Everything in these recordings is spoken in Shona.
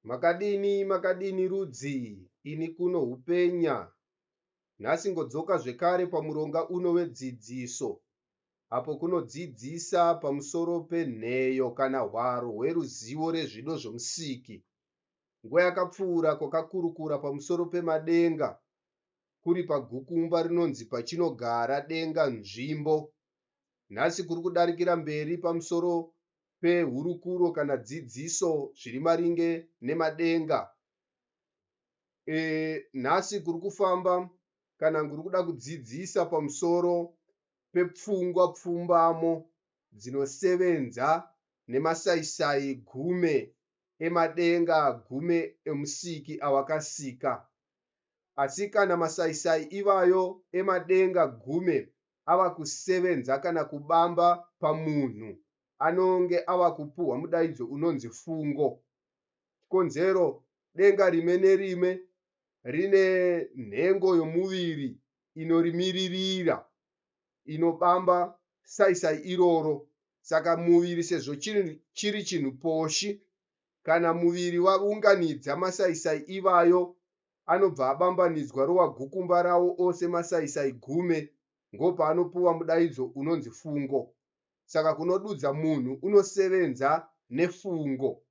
Makadini makadini rudzii ini kuno hupenya nhasi ngodzoka zvekare pamuronga uno wedzidziso apo kunodzidzisa pamusoro penheyo kana hwaro hweruzivo rezvido zvomusiki. Nguva yakapfuura kwakakurukura pamusoro pemadenga kuri pagukumba rinonzi pachinogara denga nzvimbo. Nhasi kuri kudarikira mberi pamusoro pehurukuro kana dzidziso zviri maringe nemadenga. E, nhasi kuri kufamba kana kuri kuda kudzidzisa pamusoro pepfungwa pfumbamo dzinosevenza nemasaisai gume emadenga gume emusiki awakasika. Asi kana masaisai ivayo emadenga gume ava kusevenza kana kubamba pamunhu anonge ava kupuhwa mudaidzo unonzi fungo. Chikonzero, denga rime nerime rine nhengo yomuviri inorimiririra inobamba saisai iroro. Saka muviri sezvo chiri chinhu poshi, kana muviri waunganidza masaisai ivayo anobva abambanidzwa rova gukumba rawo ose masaisai gume ngopaanopuwa mudaidzo unonzi fungo. Saka kunodudza munhu unosevenza nefungo.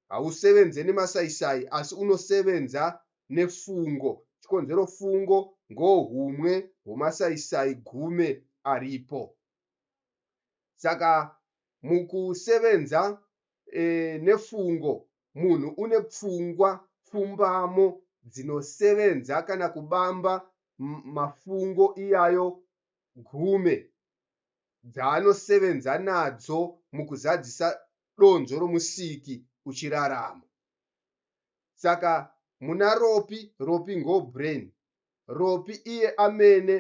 Hausevenze nemasaisai asi unosevenza nefungo. Chikonzero fungo ngohumwe hwomasaisai gume aripo. Saka mukusevenza nefungo munhu une pfungwa pfumbamo dzinosevenza kana kubamba mafungo iyayo gume dzaanosevenza nadzo mukuzadzisa donzvo roMusiki uchirarama. Saka muna Ropi, Ropi ngo brain. Ropi iye amene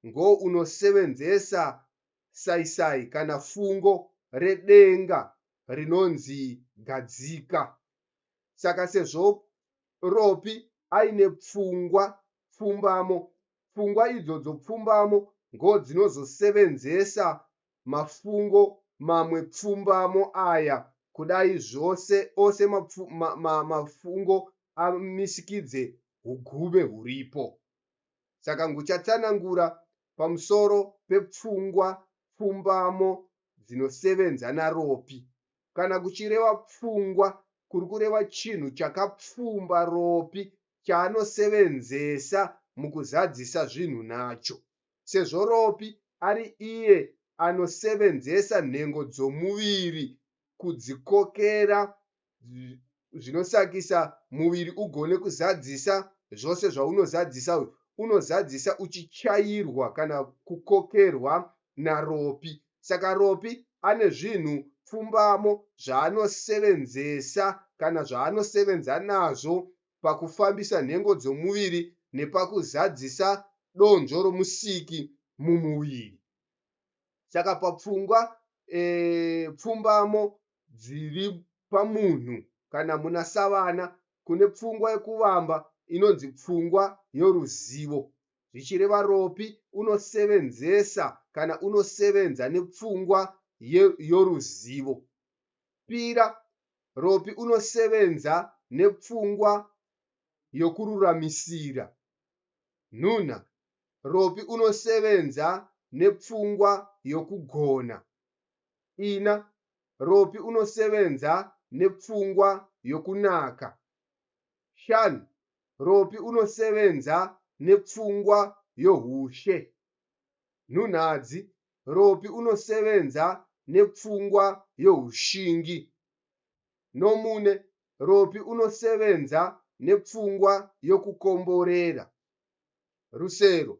ngo unosevenzesa saisai kana fungo redenga rinonzi Gadzika. Saka sezvo Ropi aine pfungwa pfumbamo, pfungwa idzodzo pfumbamo ngo dzinozosevenzesa mafungo mamwe pfumbamo aya kudai zvose ose mafungo amisikidze hugume huripo. Saka nguchatsanangura pamusoro pepfungwa pfumbamo dzinosevenza naRopi. Kana kuchireva pfungwa kuri kureva chinhu chakapfumba Ropi chaanosevenzesa mukuzadzisa zvinhu nacho. Sezvo Ropi ari iye anosevenzesa nhengo dzomuviri kudzikokera zvinosakisa muviri ugone kuzadzisa zvose zvaunozadzisa uyu unozadzisa uchichairwa kana kukokerwa naropi saka ropi ane zvinhu pfumbamo zvaanosevenzesa kana zvaanosevenza nazvo pakufambisa nhengo dzomuviri nepakuzadzisa donzvo romusiki mumuviri saka papfungwa e, pfumbamo dziri pamunhu kana munasavana kune pfungwa yekuvamba inonzi pfungwa yoruzivo, zvichireva ropi unosevenzesa kana unosevenza nepfungwa ye yoruzivo. Pira, ropi unosevenza nepfungwa yokururamisira. Nhunha, ropi unosevenza nepfungwa yokugona. Ina, Ropi unosevenza nepfungwa yokunaka. Shan, Ropi unosevenza nepfungwa yohushe. Nhunhadzi, Ropi unosevenza nepfungwa yohushingi. Nomune, Ropi unosevenza nepfungwa yokukomborera. Rusero,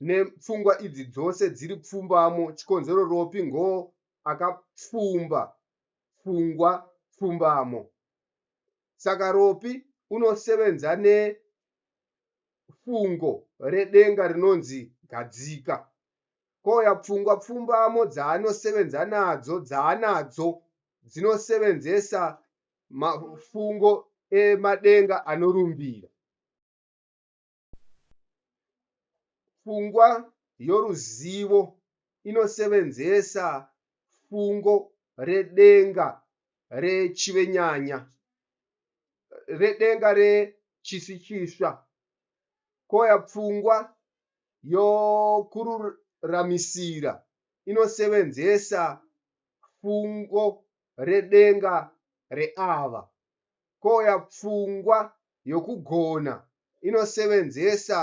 ne pfungwa idzi dzose dziri pfumbamo chikonzero ropi ngo aka pfumba pfungwa pfumbamo saka ropi uno sevenza ne fungo re denga rinonzi gadzika kouya pfungwa pfumbamo dzaano sevenza nadzo dzaanadzo dzino sevenzesa mafungo e madenga anorumbira. Pfungwa yoruzivo inosevenzesa fungo redenga rechivenyanya, redenga rechisikiswa, kouya pfungwa yokururamisira inosevenzesa fungo redenga reava, kouya pfungwa yokugona inosevenzesa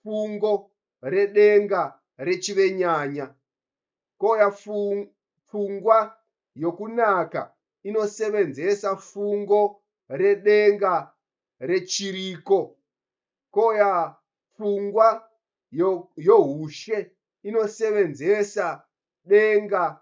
fungo redenga rechivenyanya, kouya pfungwa yokunaka inosevenzesa fungo redenga rechiriko, kouya pfungwa youshe inosevenzesa denga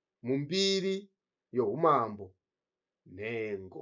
mumbiri youmambo nhengo.